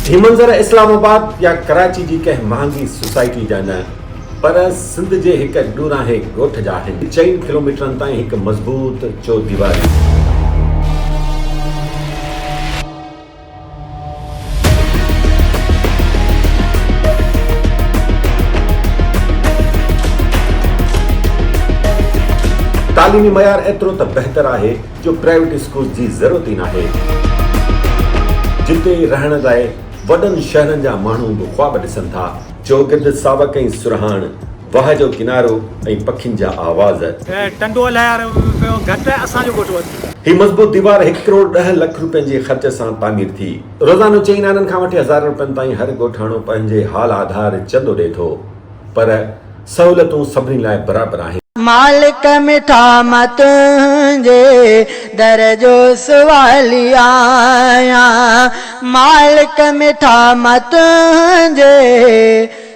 هي منظر اسلام آباد يا ڪراچي جي ڪنهن مهانگي سوسائٽي جا نه پر سنڌ جي هڪ ڏورانهين ڳوٺ جا آهن. چئن ڪلوميٽرن تائين هڪ مضبوط چوديواري. تعليمي معيار ايترو ته بهتر آهي جو پرائيويٽ اسڪولز جي ضرورت ئي ناهي. جتي رهڻ لاء وڏن شهرن جا ماڻهو به خواب ڏسن ٿا. چوگرد ساوڪ ۽ سرهاڻ واهه جو ڪنارو ۽ پکين جا آواز. ٽنڊو لهر پيو گهٽ اسان جو ڳوٺ وڌي. هي مضبوط ديوار هڪ ڪروڙ ڏهه لک روپين جي خرچ سان تعمير ٿي. روزانو چئن آنن کان وٺي هزارن روپين تائين هر ڳوٺاڻو پنهنجي حال آڌار چندو ڏئي ٿو پر سهولتون سڀني لاء برابر آهن. مالڪ مٺا مان تنهنجي در جو سوالي آهيان. مالڪ مٺا مان تنهنجي.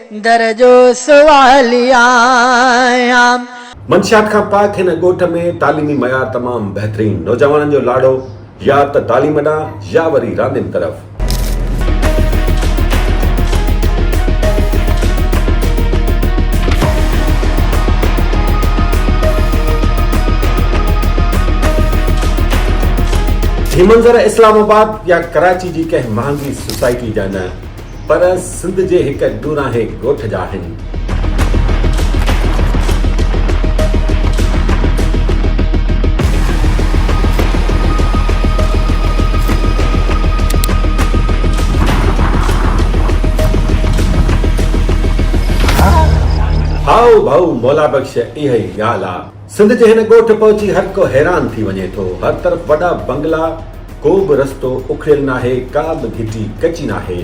در جو سوالي آهيان. منشيات کان پاڪ هن ڳوٺ ۾ تعليمي معيار تمام بهترين، نوجوانن جو لاڙو يا ته تعليم ڏانهن يا وري راندين طرف. هي منظر اسلام آباد يا ڪراچي جي ڪنهن مهانگي سوسائٽي جا نه. پر سنڌ جي هڪ ڏورانهين ڳوٺ جا آهن. هائو ڀائو مولا بخش اها ئي ڳالهه آ. سنڌ جي هن ڳوٺ پهچي هرڪو حيران ٿي وڃي ٿو. هر طرف وڏا بنگلا، ڪو به رستو اکڙيل ناهي، ڪا به گهٽي ڪچي ناهي.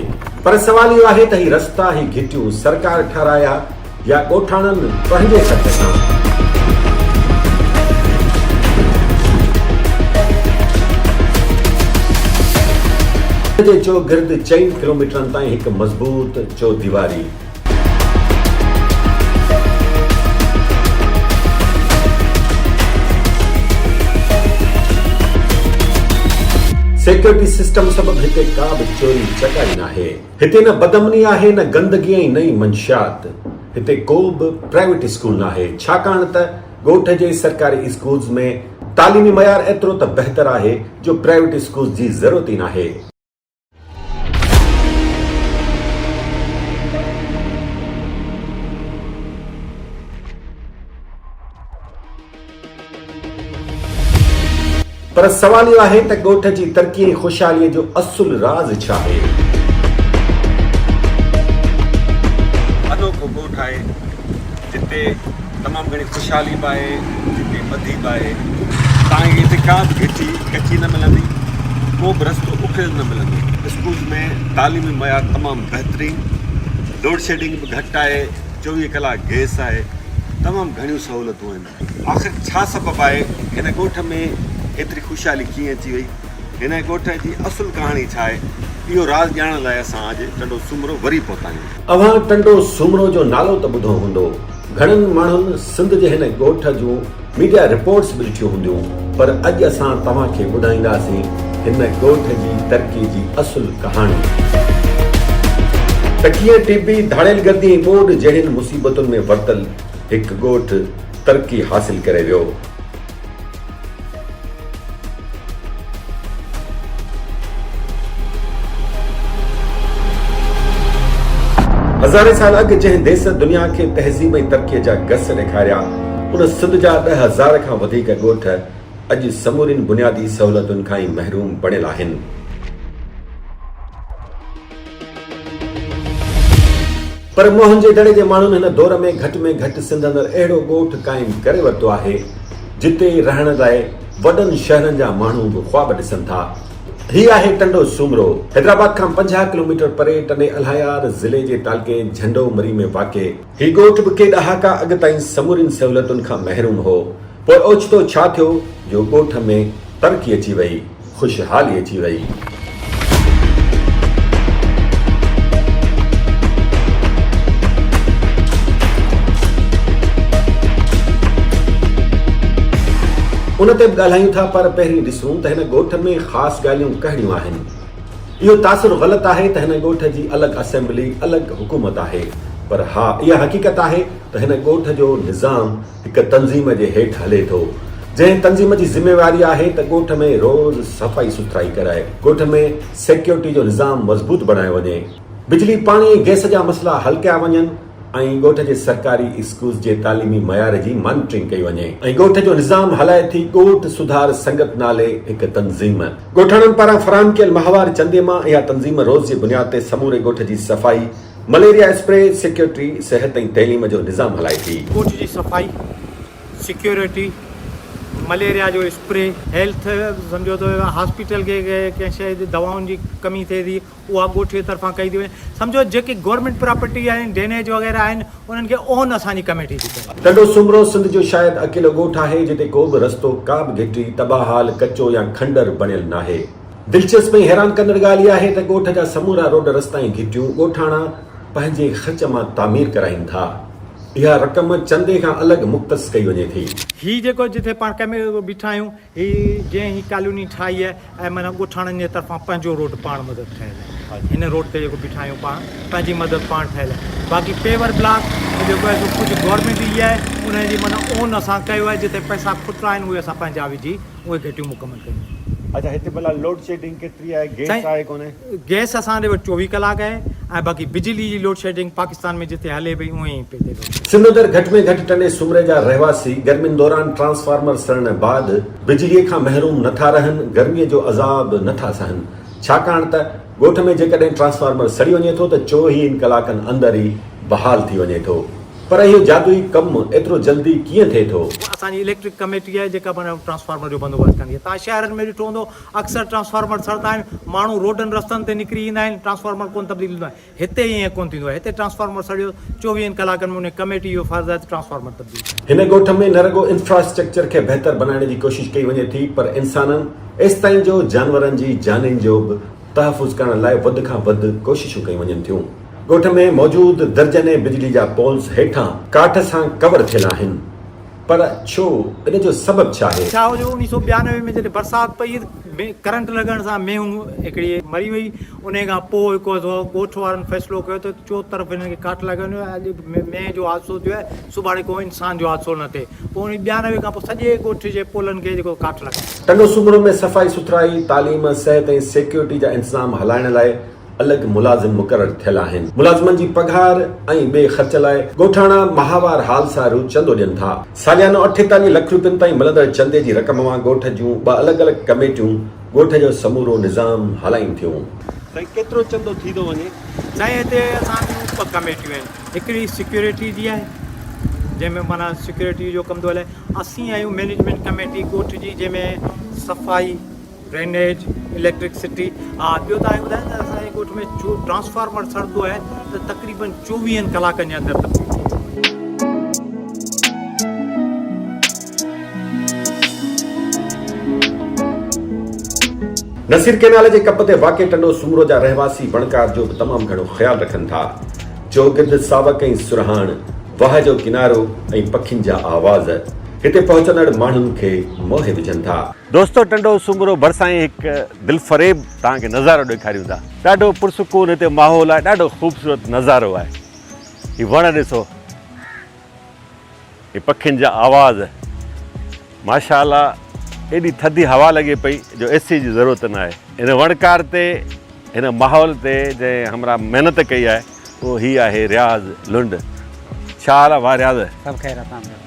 پر سوال اهو آهي ته هي رستا، هي گهٽيون سرڪار ٺهرايا يا ڳوٺاڻن پنهنجي خرچ سان؟ سنڌ جي چوگرد چئن ڪلوميٽرن تائين هڪ مضبوط چوديواري، سيڪيورٽي سسٽم سبب هتي ڪا به چوري چڪاري ناهي. هتي نه بدامني آهي نه گندگي ۽ نه ئي منشيات. هتي ڪو به پرائيويٽ اسڪول ناهي ڇاڪاڻ ته ڳوٺ جي سرڪاري اسڪولز ۾ تعليمي معيار ايترو ته بهتر آهي جو پرائيويٽ اسڪولز جي ضرورت ئي ناهي. پر سوال اهو آهي ته ڳوٺ جي ترقي ۽ خوشحالي جو اصل راز ڇا آهي؟ جتي تمام گهڻي خوشحالي به آهي جتي ٻڌي به آهي توهان کي هتي ڪا به گهٽي ڪچي نه ملندي ڪو به رستو اکڙيل نه ملندو اسڪول ۾ تعليمي معيار تمام بهترين لوڊ شيڊنگ به گهٽ آهي چوويهه ڪلاڪ گيس آهي تمام گهڻيون سهولتون آهن آخر ڇا سبب آهي هن ڳوٺ ۾ هيتري خوشحالي ڪيئن اچي وئي هن ڳوٺ جي اصل ڪهاڻي ڇا آهي اهو راز ڄاڻڻ لاء اسان اڄ ٽنڊو سومرو وري پهتا آهيون اوهان ٽنڊو سومرو جو نالو ته ٻڌو هوندو. گهڻن ماڻهن سنڌ جي هن ڳوٺ جون ميڊيا رپورٽس به ڏٺيون هونديون پر اڄ اسان توهان کي ٻڌائينداسين هن ڳوٺ جي ترقي جي اصل ڪهاڻي. ته ڪيئن ٽي بي، ڌاڙيل گردي ۽ ٻوڏ جهڙين مصيبتن ۾ ورتل هڪ ڳوٺ ترقي حاصل ڪري ويو. هزارين سال اڳ جنهن ديس دنيا کي تهذيب ۽ ترقيء جا گس ڏيکاريا، ان سنڌ جا ڏهه هزار کان وڌيڪ ڳوٺ اڄ سمورين بنيادي سهولتن کان ئي محروم بڻيل آهن. پر موهن جي دڙي جي ماڻهن هن دور ۾ گهٽ ۾ گهٽ سنڌ اندر اهڙو ڳوٺ قائم ڪري ورتو آهي، جتي رهڻ لاء وڏن شهرن جا ماڻهو به خواب ڏسن ٿا. هي آهي ٽنڊو سومرو. حيدرآباد کان پنجاهه ڪلوميٽر پري ٽنڊي الهيار ضلعي جي تعلقي جهنڊو مري ۾ واقع. هي ڳوٺ به ڪي ڏهاڪا اڳ تائين سمورين سهولتن کان محروم هو. پوء اوچتو ڇا ٿيو جو ڳوٺ ۾ ترقي اچي وئي. خوشحالي اچي وئي. ان تي به ڳالهايون ٿا پر پهرين ڏسون ته هن ڳوٺ ۾ خاص ڳالهيون ڪهڙيون آهن. اهو تاثر غلط آهي ته هن ڳوٺ جي الڳ اسيمبلي الڳ حڪومت آهي پر ها اها حقيقت آهي ته هن ڳوٺ جو نظام هڪ تنظيم جي هيٺ هلي ٿو، جنهن تنظيم جي ذميواري آهي ته ڳوٺ ۾ روز صفائي سٿرائي ڪرائي، ڳوٺ ۾ سيڪيورٽي جو نظام مضبوط بڻايو وڃي، بجلي، پاڻي ۽ گئس جا مسئلا حل ڪيا وڃن ۽ ڳوٺ جي سرڪاري اسڪولز جي تعليمي معيار جي مانيٽرنگ ڪئي وڃي. ۽ ڳوٺ جو نظام هلائي ٿي ڳوٺ سڌار سنگت نالي هڪ تنظيم. ڳوٺاڻن پاران فراهم ڪيل ماهوار چندي مان اها تنظيم روز جي بنياد تي سموري ڳوٺ جي صفائي، مليريا اسپري، سيڪيورٽي، صحت ۽ تعليم جو نظام هلائي ٿي. ڪوچ جي صفائي، سيڪيورٽي، مليريا جو اسپري. هيلٿ سمجهو ته هاسپيٽل کي ڪنهن شيء جي دوائن جي ڪمي ٿئي ٿي اها ڳوٺي طرفان ڪئي ٿي وڃي سمجهو جيڪي گورنمينٽ پراپرٽي آهن ڊينيج وغيره آهن انهن کي اون اسان جي ڪميٽي ٿي ڪري. ٽنڊو سومرو سنڌ جو شايد اڪيلو ڳوٺ آهي جتي ڪو به رستو، ڪا به گهٽي، تباهه حال، ڪچو يا کنڊر بڻيل ناهي. دلچسپ ۽ حيران ڪندڙ ڳالهه اها آهي ته ڳوٺ جا سمورا روڊ رستا ۽ گهٽيون ڳوٺاڻا پنهنجي خرچ مان تعمير ڪرائين ٿا. اها رقم چندي کان الڳ مختص ڪئي وڃي ٿي. هي جيڪو جتي پاڻ ڪم بيٺا آهيون هي جنهن هي ڪالوني ٺاهي آهي ۽ معنيٰ ڳوٺاڻن جي طرفان پنهنجو روڊ پاڻ مدد ٺهيل آهي هن روڊ تي جيڪو بيٺا آهيون پاڻ پنهنجي مدد پاڻ ٺهيل آهي باقي پيور بلاڪ جيڪو آهي سو ڪجهه گورنمينٽ جي آهي انهن جي معنيٰ اون اسان ڪيو آهي جتي پئسا کٽرا آهن اهي اسان پنهنجا وجهي اهي گهٽيون مڪمل ڪيون. اچا هتي ڀلا لوڊ شيڊنگ ڪيتري آهي گيس آهي ڪونه. گيس اسان ڏي وٽ چوويهه ڪلاڪ آهي ۽ باقي بجلي جي لوڊ شيڊنگ پاڪستان ۾ جتي هلي پئي اهي ئي پئي ٿئي. سنڌ اندر گهٽ ۾ گهٽ ٽني سومري جا رهواسي گرمين دوران ٽرانسفارمر سڙڻ بعد بجلي کان محروم نه ٿا رهن گرمي جو عذاب نه ٿا سهن ڇاڪاڻ ته ڳوٺ ۾ جيڪڏهن ٽرانسفارمر سڙي وڃي ٿو ته چوهين ڪلاڪن اندر ئي بحال ٿي وڃي ٿو. پر اهو جادوئي ڪم ايترو جلدي ڪيئن ٿئي ٿو؟ اها اسان جي اليڪٽرڪ ڪميٽي آهي جيڪا پاڻ ٽرانسفارمر جو بندوبست ڪندي آهي. توهان شهرن ۾ ڏٺو هوندو اڪثر ٽرانسفارمر سڙتا آهن، ماڻهو روڊن رستن تي نڪري ايندا آهن، ٽرانسفارمر ڪونه تبديل ٿيندو آهي. هتي ائين ڪونه ٿيندو آهي. هتي ٽرانسفارمر سڙيو، چوويهن ڪلاڪن ۾ انهي ڪميٽي جو فرض آهي ته ٽرانسفارمر تبديل ڪري. هن ڳوٺ ۾ نه رڳو انفراسٽرڪچر کي بهتر بنائڻ جي ڪوشش ڪئي وڃي ٿي پر انسانن ايستائين جو جانورن جي جانين جو به تحفظ ڪرڻ لاء وڌ کان وڌ ڪوششون ڪيون وڃن ٿيون. ڳوٺ ۾ موجود درجنين بجلي جا پولز هيٺان ڪاٺ سان ڪور ٿيل آهن پر ڇو؟ ان جو سبب ڇا آهي؟ ڇا هو جو اوڻيھ سؤ ٻيانوي ۾ جڏهن برسات پئي ڪرنٽ لڳڻ سان مينهن هڪڙي مري وئي انهي کان پوء ڳوٺ وارن فيصلو ڪيو ته چوطرف هنن کي ڪاٺ لڳائي وڃو اڄ مينهن جو حادثو ٿيو آهي سڀاڻي ڪو انسان جو حادثو نه ٿئي پوء اوڻيھ ٻيانوي کان پوء سڄي ڳوٺ جي پولن کي جيڪو ڪاٺ لڳايو. ٽنڊو سومرو ۾ صفائي سٿرائي، تعليم، صحت ۽ سيڪيورٽي جا انتظام هلائڻ لاء الڳ ملازم مقرر ٿيل آهن. ملازمن جي پگهار ۽ ٻئي خرچ لاء ڳوٺاڻا ماهوار حال سارو چندو ڏين ٿا. ساليانو اٺيتاليهه لک روپين تائين ملندڙ چندي جي رقم مان ڳوٺ جون ٻه الڳ الڳ ڪميٽيون ڳوٺ جو سمورو نظام هلائين ٿيون. ڀئي ڪيترو چندو ٿي ٿو وڃي. سائين هتي اسان جون ٻه ڪميٽيون آهن. هڪڙي سيڪيورٽي جي آهي جنهن ۾ معنيٰ سيڪيورٽي جو ڪم ٿو هلي. اسين آهيون مئنيجمينٽ ڪميٽي ڳوٺ جي جنهن ۾ صفائي. ڊرينيج، اليڪٽرڪ سٽي، ها ٻيو توهان ٻڌايو ته اسان جي ڳوٺ ۾ جو ٽرانسفارمر سڙندو آهي ته تقريبن چوويهن ڪلاڪن جي اندر تبديل ٿي ويندو آهي. نصير ڪينال جي ڪپ تي واقع ٽنڊو سومرو جا رهواسي وڻڪار جو به تمام گهڻو خيال رکن ٿا. چوگرد ساوڪ ۽ سرهاڻ، واهه جو ڪنارو ۽ پکين جا آواز هتي پهچندڙ ماڻهن کي موهي وجهن ٿا. دوستو ٽنڊو سومرو ڀرسان ئي هڪ دلفريب توهان کي نظارو ڏيکاريون ٿا ڏاڍو پرسڪون هتي ماحول آهي ڏاڍو خوبصورت نظارو آهي هي وڻ ڏسو هي پکين جا آواز ماشاء الله ايڏي ٿڌي هوا لڳي پئي جو اي سي جي ضرورت نه آهي هن وڻڪار تي هن ماحول تي جنهن همراهه محنت ڪئي آهي اهو هي آهي رياض لنڊ ڇا حال آهي ڀا رياض سڀ خير اسان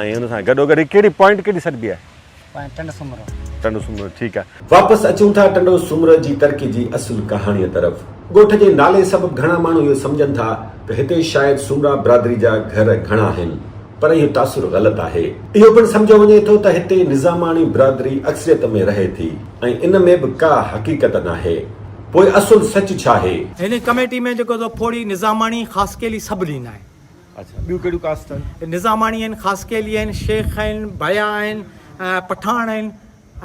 ۽ ان سان گڏو گڏ هي ڪهڙي پوائنٽ ڪهڙي سڏبي آهي؟ پوائنٽ ٽنڊو سومرو. ٽنڊو سومرو ٺيڪ آهي. واپس اچون ٿا ٽنڊو سومرو جي ترقي جي اصل ڪهاڻيء طرف. ڳوٺ جي نالي سبب گهڻا ماڻهو اهو سمجهن ٿا ته هتي شايد سومرا برادري جا گهر گهڻا آهن پر اهو تاثر غلط آهي. اهو پڻ سمجهيو وڃي ٿو ته هتي نظاماڻي برادري اڪثريت ۾ رهي ٿي ۽ ان ۾ به ڪا حقيقت ناهي. پوء اصل سچ ڇا آهي؟ هن ڪميٽي ۾ جيڪو سو ڦوڙي نظاماڻي خاصخيلي سڀ لينائين. اڇا ٻيون ڪهڙيون ڪاسٽ آهن. نظاماڻي آهن، خاصخيلي آهن، شيخ آهن، ڀيا آهن، پٺاڻ آهن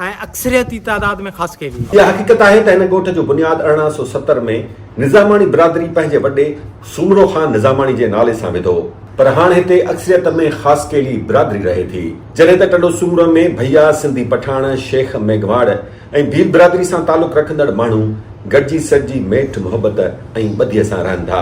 ۽ اڪثريتي تعداد ۾ خاصخيلي آهن. اها حقيقت آهي ته هن ڳوٺ جو بنياد ارڙهن سؤ ستر ۾ نظاماڻي برادري پنهنجي وڏي سومرو خان نظاماڻي جي نالي سان وڌو هو پر هاڻ هتي اڪثريت ۾ خاصخيلي برادري رهي ٿي جڏهن ته ٽنڊو سومرو ۾ ڀيا، سنڌي پٺاڻ، شيخ، ميگهواڙ ۽ ڀيل برادري سان تعلق رکندڙ ماڻهو گڏجي سڏجي ميٺ محبت ۽ ٻڌيء سان رهن ٿا.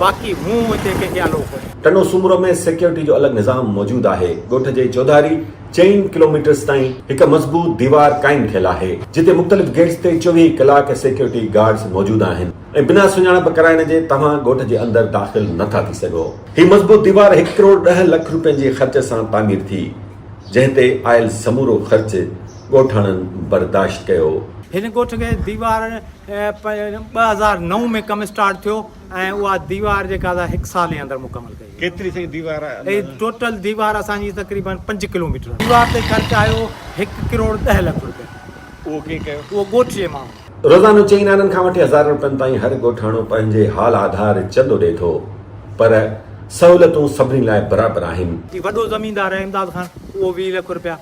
باقي مون هتي ڪنهن کي آندو ڪونهي. ٽنڊو سومرو ۾ سيڪيورٽي جو الڳ نظام موجود آهي. ڳوٺ جي چوڌاري چئن ڪلوميٽرز تائين هڪ مضبوط ديوار قائم ٿيل آهي، جتي مختلف گيٽس تي چوويهه ڪلاڪ سيڪيورٽي گارڊز موجود آهن ۽ بنا سڃاڻپ ڪرائڻ جي توهان ڳوٺ جي اندر داخل نه ٿا ٿي سگهو. هي مضبوط ديوار هڪ ڪروڙ ڏهه لک روپين جي خرچ سان تعمير ٿي، جنهن تي آيل سمورو خرچ ڳوٺاڻن برداشت ڪيو. هن ڳوٺ کي ديوار ٻه هزار نو ۾ ڪم اسٽارٽ ٿيو ۽ اها ديوار جيڪا سا هڪ سال جي اندر مڪمل ڪئي وئي. ڪيتري سائين ديوار آهي اندازا؟ هي ٽوٽل ديوار اسان جي تقريبن پنج ڪلوميٽر آهي. ديوار تي خرچ آيو هڪ ڪروڙ ڏهه لک روپيا. اهو ڪئين ڪيو؟ اهو ڳوٺ جي ماڻهن ڪيو. روزانو چئين آنن کان وٺي هزارن روپين تائين هر ڳوٺاڻو پنهنجي حال آڌار چندو ڏئي ٿو پر سهولتون سڀني لاء برابر آهن. هي وڏو زميندار آهي امداد خان اهو ويهه لک روپيا.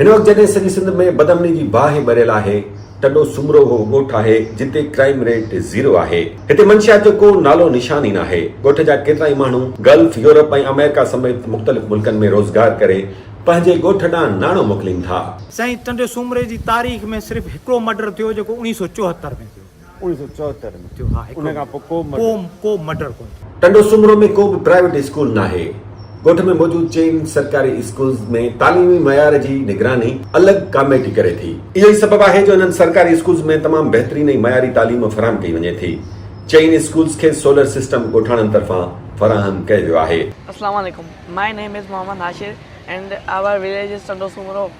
هن وقت جڏهن سڄي سنڌ ۾ بدامني جي باهه ٻريل آهي، ٽنڊو سومرو اهو ڳوٺ آهي جتي ڪرائيم ريٽ زيرو آهي، هتي منشيات جو ڪو نالو نشان ئي ناهي، ڳوٺ جا ڪيترائي ماڻهو گلف، يورپ ۽ آمريڪا سميت مختلف ملڪن ۾ روزگار ڪري پنهنجي ڳوٺ ڏانهن ناڻو موڪلين ٿا. سائين ٽنڊي سومري جي تاريخ ۾ صرف هڪڙو مرڊر ٿيو جيڪو اڻيهه سؤ چوهتر ۾ ٿيو. انهيء سو چوهتر ۾ ان کان پوء ڪو مرڊر ڪونه ٿيو. ٽنڊو سومرو ۾ ڪو به پرائيويٽ اسڪول ناهي. ڳوٺ ۾ موجود چئن سرڪاري اسڪولز ۾ تعليمي معيار جي نگراني الڳ ڪاميٽي ڪري ٿي. اهو ئي سبب آهي جو انهن سرڪاري اسڪولز ۾ تمام بهترين ۽ معياري تعليم فراهم ڪئي وڃي ٿي. چئن اسڪولز کي سولر سسٽم ڳوٺاڻن طرفان فراهم ڪيو ويو آهي. اسلام عليڪم ماء نيم is Muhammad Nashir and our village is Tando Soomro.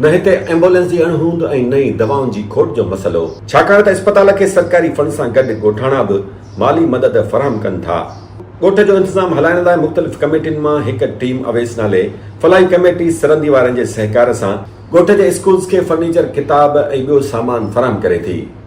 نه هتي ايمبولينس جي اڻ هوند ۽ نه ئي دوائن جي کوٽ جو مسئلو. ڇاڪاڻ ته اسپتال کي سرڪاري فنڊ سان گڏ ڳوٺاڻا به مالي مدد فراهم ڪن ٿا. ڳوٺ جو انتظام هلائڻ لاء مختلف ڪميٽين مان هڪ ٽيم اويس نالي فلاحي ڪميٽي سرندي وارن جي سهڪار سان ڳوٺ جي اسڪولز کي فرنيچر، ڪتاب ۽ ٻيو سامان فراهم ڪري ٿي.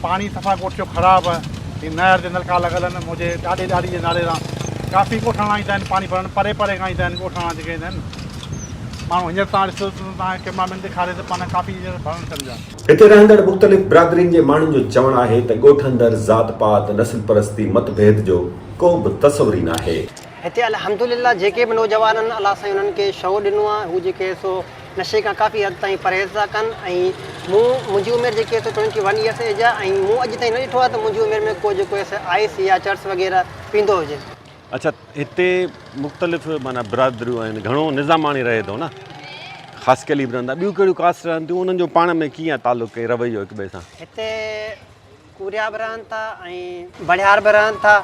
پاڻي صفا ڳوٺ جو خراب ۽ نهر جي نلڪا لڳل آهن منهنجي ڏاڏي ڏاڏي جي نالي سان ڪافي ڳوٺاڻا ايندا آهن پاڻي ڀرڻ پري پري کان ايندا آهن ڳوٺاڻا جيڪي ايندا آهن ماڻهو هينئر تان ڏسو تان ڪئميرا مين ڏيکاري ته پاڻي ڪافي هينئر ڀرڻ ٿين جا. هتي رهندڙ مختلف برادرين جي ماڻهن جو چوڻ آهي ته ڳوٺ اندر ذات پات نسل پرستي مت ڀيد جو ڪو به تصور ئي ناهي. هتي الحمدلله جيڪي به نوجوانن الله سائين انهن کي شعور ڏنو آهي هو جيڪي سو نشي کان ڪافي حد تائين پرهيز ٿا ڪن ۽ مون منهنجي عمر جيڪي اٿس ٽوئنٽي ون ايئرس ايج آ ۽ مون اڄ تائين نه ڏٺو آ ته منهنجي عمر ۾ ڪو جيڪو ايس آئس يا چرس وغيره پيندو هجي. اڇا هتي مختلف معنيٰ برادريون آهن گهڻو نظاماڻي رهي ٿو نه خاص قليب رهندا ٻيون ڪهڙيون ڪاسٽ رهن ٿيون انهن جو پاڻ ۾ ڪيئن آ تعلق ۽ رويو هڪ ٻئي سان. هتي ڪوريا به رهن ٿا ۽ بڻهار به رهن ٿا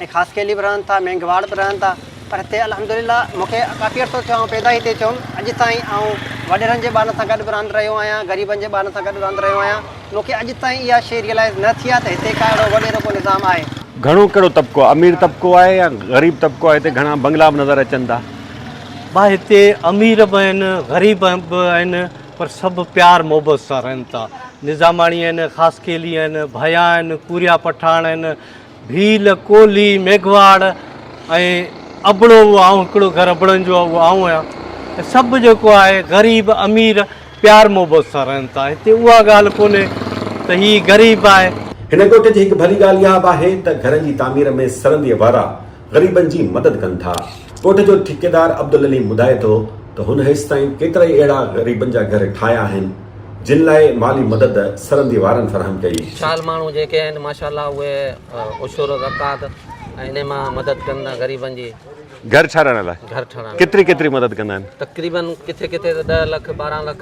۽ خاصخيلي به رهن ٿا مينگهواڙ به رهن ٿا پر هتي الحمدلله مون کي ڪافي عرصو ٿيو آئون پيدا ئي هتي ٿيو هيم اڄ تائين آئون وڏيرن جي ٻارن سان گڏ به رهندو رهيو آهيان غريبن جي ٻارن سان گڏ رهندو رهيو آهيان مون کي اڄ تائين اها شيء ريئلائز نه ٿي آهي ته هتي ڪا اهڙو وڏيرو ڪو نظام آهي. گهڻو ڪهڙو طبقو امير طبقو آهي يا غريب طبقو آهي هتي گهڻا بنگلا به نظر اچن ٿا. ڀا هتي امير به آهن غريب به آهن پر سڀ پيار محبت سان رهن ٿا. نظاماڻي آهن، خاصخيلي آهن، ڀيا آهن، ڪوريا پٺاڻ آهن، ڀيل، ڪولهي، ميگهواڙ ۽ ابڙو اهو آئون هڪڙو گهر ابڙن جو اهو آئون آهيان ۽ سڀ جيڪو آهي غريب امير پيار محبت سان رهن ٿا. هتي اها ڳالهه ڪونهي ته هي غريب آهي. هن ڳوٺ جي هڪ ڀلي ڳالهه اها به آهي ته گهرن جي تعمير ۾ سرندي وارا غريبن جي مدد ڪن ٿا. ڳوٺ جو ٺيڪيدار عبدالعليم ٻڌائي ٿو ته هن هيستائين ڪيترائي اهڙا غريبن جا گهر ٺاهيا آهن، جن لاء مالي مدد سرندي وارن فراهم ڪئي. شال ماڻهو جيڪي آهن ماشاء الله اهي عشر زڪوات ۽ انهي مان مدد ڪن ٿا غريبن جي. گهر ٺاهرائڻ لاء ڪيتري ڪيتري مدد ڪندا آهن؟ تقريبن ڪٿي ڪٿي ته ڏهه لک، ٻارهن لک.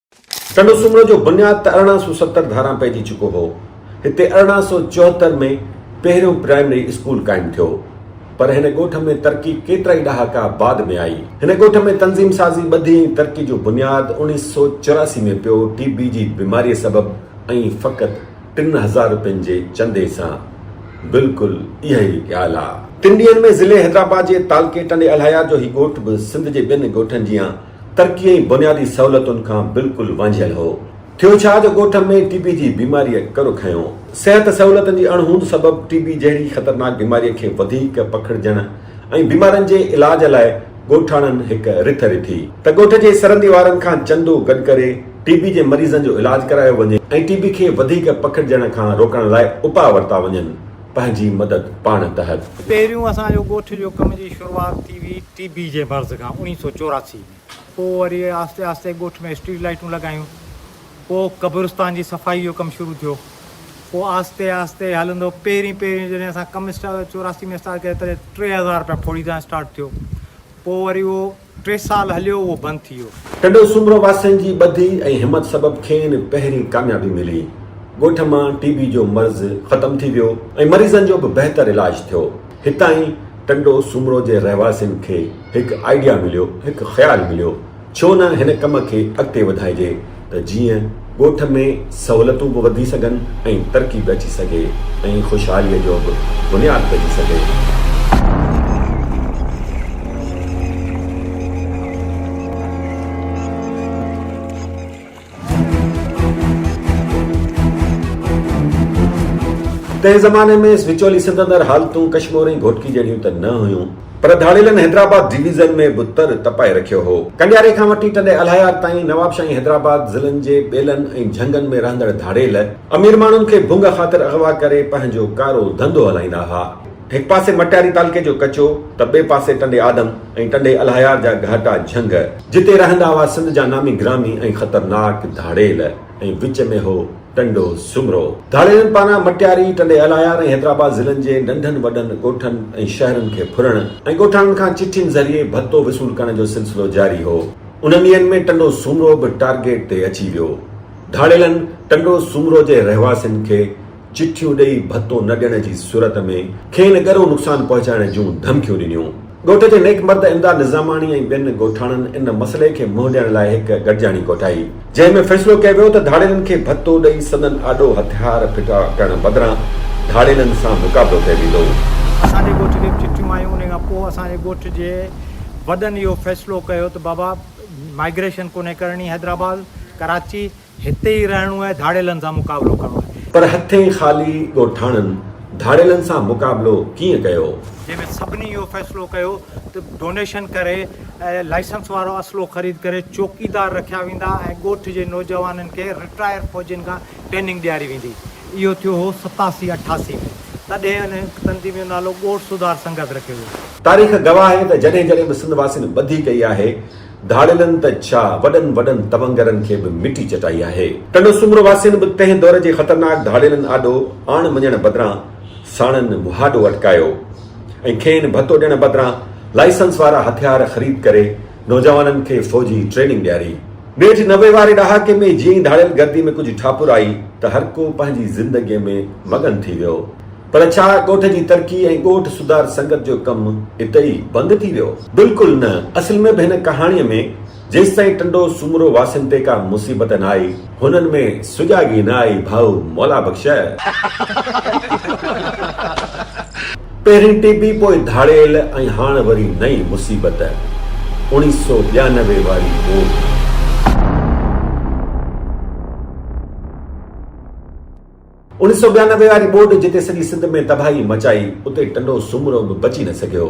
ٽنڊو سومرو جو بنياد ته ارڙهن سؤ ستر ڌاران پئجي چڪو هو. هتي ارڙهن سؤ چوهتر ۾ پهريون پرائمري اسڪول قائم ٿيو. پر هن ڳوٺ ۾ ترقي ڪيترائي ڏهاڪا بعد ۾ آئي. هن ڳوٺ ۾ تنظيم سازي، ٻڌي ۽ ترقي جو بنياد اوڻيهه سؤ چوراسي ۾ پيو، ٽي بي جي بيماريء سبب ۽ فقط ٽن هزار روپين جي چندي سان. بلڪل اهي ئي ڳالهه آ. تن ڏينهن ۾ ضلعي حيدرآباد جي تعلقي ٽنڊي الهيار جو هي ڳوٺ به سنڌ جي ٻين ڳوٺن جيان ترقي ۽ بنيادي سهولتن کان بلڪل وانجهيل هو. ٿيو ڇا جو ڳوٺ ۾ ٽي بي جي بيماريء ڪر کنيو. صحت سهولتن جي اڻ هوند سبب ٽي بي جهڙي خطرناڪ بيماريء کي وڌيڪ پکڙجڻ ۽ بيمارن جي علاج لاء ڳوٺاڻن هڪ رٿ رٿي ته ڳوٺ جي سرندي وارن کان چندو گڏ ڪري ٽي بي جي مريضن جو علاج ڪرايو وڃي ۽ ٽي بي کي وڌيڪ پکڙجڻ کان روڪڻ لاء اپاء ورتا وڃن. پنهنجي مدد پاڻ تحت. پهريون اسان جو ڳوٺ جو ڪم جي شروعات ٿي هئي. ٽي بي جي مرض کان اوڻيهه سؤ چوراسي ۾ پوء وري آهستي آهستي ڳوٺ ۾ اسٽريٽ لائيٽون لڳايون، پوء قبرستان جي صفائي جو ڪم شروع ٿيو، پوء آهستي آهستي هلندو پهرين پهرين جڏهن اسان ڪم چوراسي ۾ اسٽارٽ ڪيو تڏهن ٽي هزار رپيا ڦوڙي تان اسٽارٽ ٿيو، پوء وري اهو ٽي سال هليو اهو بند ٿي ويو. ٽنڊو سومرو واسين جي ٻڌي ۽ همت سبب کين پهرين ڪاميابي ملي، ڳوٺ مان ٽي بي جو مرض ختم ٿي ويو ۽ مريضن جو به بهتر علاج ٿيو، هتان ئي ٽنڊو سومرو جي رهواسين کي هڪ آئيڊيا مليو، هڪ خيال مليو، ڇو نه هن ڪم کي اڳتي وڌائجي ته جيئن ڳوٺ ۾ سهولتون به وڌي سگهن ۽ ترقي به اچي سگهي ۽ خوشحاليء جو به بنياد پئجي سگهي. تنهن زماني ۾ اس وچولي سنڌ اندر حالتون ڪشمور ۽ گهوٽڪي جهڙيون ته نه هيون پر ڌاڙيلن حيدرآباد ڊويزن ۾ به تر تپائي رکيو هو. ڪنڊياري کان وٺي ٽنڊي الهيار تائين نوابشاهي حيدرآباد ضلعن جي ٻيلن ۽ جهنگن ۾ رهندڙ ڌاڙيل، امير ماڻهن کي ڀونگ خاطر اغوا ڪري پنهنجو ڪارو ڌنڌو هلائيندا ها. هڪ پاسي مٽياري تعلقي جو ڪچو ته ٻئي پاسي ٽنڊي آدم ۽ ٽنڊي الهيار جا گهاٽا جهنگ، جتي رهندا هئا سنڌ جا نامي گرامي ۽ خطرناڪ ڌاڙيل ۽ وچ ۾ هو ٽنڊو سومرو. ڌاڙيلن پاران مٽياري، ٽنڊي الهيار ۽ حيدرآباد ضلعن جي ننڍن وڏن ڳوٺن ۽ شهرن کي ڦرڻ ۽ ڳوٺاڻن کان چٺين ذريعي ڀتو وصول ڪرڻ جو سلسلو جاري هو. انهن ڏينهن ۾ ٽنڊو سومرو به ٽارگيٽ تي اچي ويو. ڌاڙيلن ٽنڊو سومرو جي رهواسين کي چٺيون ڏئي ڀتو نه ڏيڻ جي صورت ۾ کين ڳرو نقصان پهچائڻ جون ڌمڪيون ڏنيون. ڳوٺ جي نيڪ مرد امداد نظاماڻي ۽ ٻين ڳوٺاڻن ان مسئلي کي منهن ڏيڻ لاء هڪ گڏجاڻي ڪوٺائي، جنهن ۾ فيصلو ڪيو ويو ته ڌاڙيلن کي ڀتو ڏئي سندن آڏو هٿيار ڦٽا ڪرڻ بدران ڌاڙيلن سان مقابلو ڪيو ويندو. اسان جي ڳوٺ کي به چٺيون آيون، انهي کان پوء اسان جي ڳوٺ جي وڏن اهو فيصلو ڪيو ته بابا مائگريشن ڪونهي ڪرڻي حيدرآباد، ڪراچي، هتي ئي رهڻو آهي، ڌاڙيلن سان مقابلو ڪرڻو آهي. پر هٿين خالي ڳوٺاڻن ڌاڙيلن سان مقابلو ڪيئن ڪيو؟ جنهن ۾ سڀني اهو فيصلو ڪيو ته ڊونيشن ڪري ۽ لائسنس وارو اسلحو خريد ڪري چوڪيدار رکيا ويندا ۽ ڳوٺ جي نوجوانن کي رٽائر فوجين کان ٽريننگ ڏياري ويندي. اهو ٿيو هو ستاسي اٺاسي ۾. تڏهن ان تنظيم جو نالو ڳوٺ سڌار سنگت رکيو ويو. تاريخ گواهه آهي ته جڏهن جڏهن به سنڌ واسين ٻڌي ڪئي آهي، ڌاڙيلن ته ڇا وڏن وڏن تونگرن کي به مٽي چٽائي آهي. ٽنڊو سومرو واسين به تنهن دور جي خطرناڪ ڌاڙيلن آڏو آڻ مڃڻ بدران ساڻن مهاڏو اٽڪايو ۽ کين ڀتو ڏيڻ بدران لائسنس وارا هٿيار خريد ڪري نوجوانن کي فوجي ٽريننگ ڏياري. نيٺ نوي واري ڏهاڪي ۾ جيئن ئي ڌاڙيل گردي ۾ ڪجهه ٺاپر آئي ته هرڪو پنهنجي زندگي ۾ مگن ٿي ويو. پر ڇا ڳوٺ جي ترقي ۽ ڳوٺ سڌار سنگت جو ڪم اتي ئي بند ٿي ويو؟ بلڪل نه، اصل ۾ به هن ڪهاڻيء ۾ جيستائين ٽنڊو سومرو واسين تي ڪا مصيبت نه آئي، هنن ۾ سجاڳي نه آئي ڀائو مولا بخش! پهرين ٽي بي پوء ڌاڙيل ۽ هاڻ وري نئين مصيبت اوڻيهه سؤ ٻيانوي واري ٻوڏ. اڻيهه سؤ ٻيانوي واري ٻوڏ جتي سڄي سنڌ ۾ تباهي مچائي، اتي ٽنڊو سومرو به بچي نه سگهيو.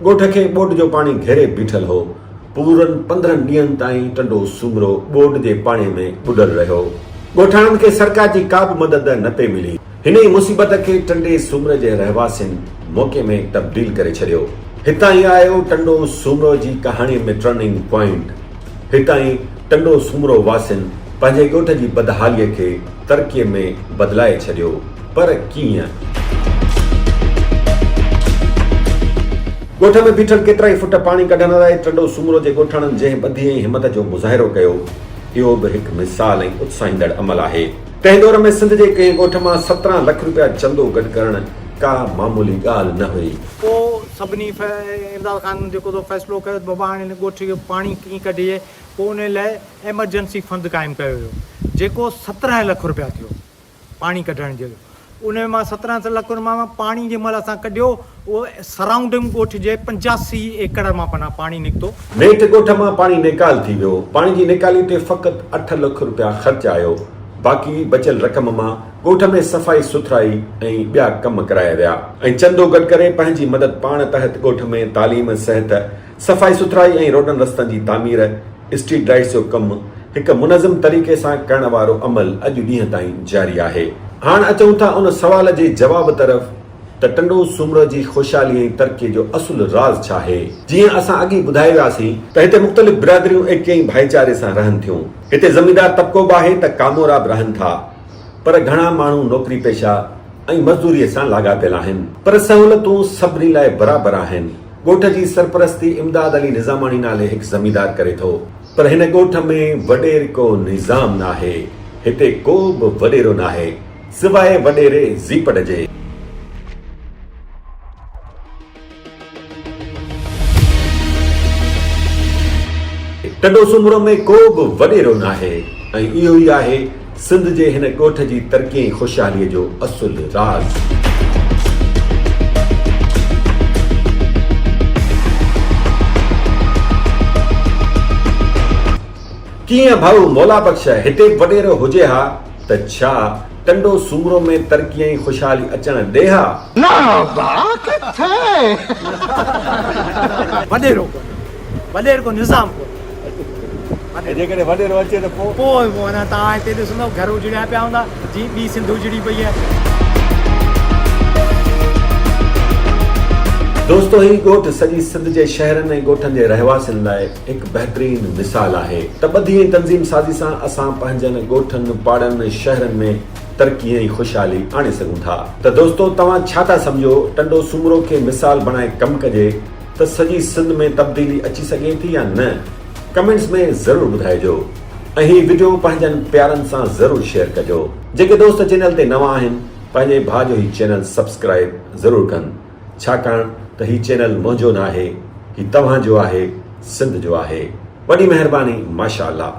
ڳوٺ کي ٻوڏ جو پاڻي گهيري بيٺل هو. پورن پندرهن ڏينهن تائين ٽنڊو سومرو ٻوڏ جي پاڻي ۾ ٻڏل رهيو. ڳوٺاڻن کي سرڪار جي ڪا به مدد نه پئي ملي. هن ئي مصيبت کي ٽنڊي سومري جي رهواسين موقعي ۾ تبديل ڪري ڇڏيو. هتان ئي آيو ٽنڊو سومرو جي ڪهاڻي ۾ ٽرننگ پوائنٽ. هتائين ٽنڊو سومرو واسين پنهنجي ڳوٺ جي بدحاليء کي ترقيء ۾ بدلائي ڇڏيو، پر ڪيئن؟ ڳوٺ ۾ بيٺل ڪيترائي فٽ پاڻي ڪڍڻ لاء ٽنڊو سومرو جي ڳوٺاڻن جنهن ٻڌي ۽ همت جو مظاهرو ڪيو، اهو به هڪ مثال ۽ اتساهيندڙ عمل آهي. تنهن دور ۾ سنڌ جي ڪنهن ڳوٺ مان سترهن لک روپيا چندو گڏ ڪرڻ ڪا معمولي ڳالهه نه هئي. پوء سڀني امداد خان جيڪو سو فيصلو ڪيو ته بابا هاڻي هن ڳوٺ جو پاڻي ڪيئن ڪڍجي پوء ان لاء ايمرجنسي فند قائم ڪيو ويو جيڪو سترهن لک رپيا ٿيو پاڻي ڪڍڻ جو ان ۾ مان سترهن لک رپيا مان پاڻي جنهن مهل اسان ڪڍيو اهو سرائونڊنگ ڳوٺ جي پنجاسي ايڪڙ مان پناهه پاڻي نڪتو. نيٺ ڳوٺ مان پاڻي نيڪال ٿي ويو پاڻي جي نيڪالي تي فقط اٺ لک رپيا خرچ آيو باقي بچيل رقم مان ڳوٺ ۾ صفائي سٿرائي ۽ ٻيا ڪم ڪرايا ويا ۽ چندو گڏ ڪري پنهنجي مدد پاڻ تحت ڳوٺ ۾ تعليم، صحت، صفائي سٿرائي ۽ روڊن رستن جي تعمير، اسٽريٽ لائيٽس جو ڪم هڪ منظم طريقي سان ڪرڻ وارو عمل اڄ ڏينهن تائين جاري آهي. هاڻ اچون ٿا ان سوال جي جواب طرف ته ٽنڊو سومرو جي خوشحالي ۽ ترقي جو اصل راز ڇا آهي؟ جيئن اسان اڳ ئي ٻڌائي وياسين ته هتي مختلف برادريون ايڪي ۽ ڀائيچاري سان رهن ٿيون. هتي زميندار طبقو به آهي ته ڪامورا به رهن ٿا. پر گهڻا ماڻهو نوڪري پيشه ۽ مزدوري سان لاڳاپيل آهن پر سهولتون سڀني لاء برابر آهن ڳوٺ جي سرپرستي امداد علي نظاماڻي نالي هڪ زميندار ڪري ٿو پر هن ڳوٺ ۾ وڏيرڪو نظام ناهي هتي ڪو به وڏيرو ناهي سواء وڏيري زيپٽ جي. ٽنڊو سومرو ۾ ڪو به وڏيرو ناهي ۽ اهو ئي آهي سنڌ جي هن ڳوٺ جي ترقي ۽ خوشحالي جو اصل راز. ڪيئن ڀائو مولا بخش هتي به وڏيرو هجي ها ته ڇا ٽنڊو سومرو ۾ ترقي ۽ خوشحالي اچڻ ڏي ها. ناروبا ڪٿي؟ وڏيرو ڪونه وڏير ڪو نظام ڪونه ۽ جيڪڏهن وڏيرو اچي ته پوء؟ پوء پوء اڃا توهان هتي ڏسندؤ گهر اجڙيا پيا هوندا جيئن ٻي سنڌ اجڙي پئي آهي. دوستو هي ڳوٺ سڄي سنڌ جي شهرن ۽ ڳوٺن جي رهواسين لاء هڪ بهترين مثال آهي ته ٻڌي ۽ تنظيم سازي سان اسان پنهنجن ڳوٺن، پاڙن، شهرن ۾ ترقي ۽ خوشحالي آڻي سگهون ٿا ته دوستو توهان ڇا ٿا سمجهو ٽنڊو سومرو کي مثال بڻائي ڪم ڪجي ته سڄي سنڌ ۾ تبديلي اچي سگهي ٿي يا نه ڪمينٽس ۾ ضرور ٻڌائجو ۽ هي وڊيو پنهنجن پيارن سان ضرور شيئر ڪجو. جيڪي دوست چينل تي نوان آهن پنهنجي ڀاء جو هي چينل سبسڪرائب ضرور ڪن. ڇاڪاڻ ته هي چينل منهنجو ناهي هي توهان جو آهي سنڌ جو آهي وڏي مهرباني ماشاءالله.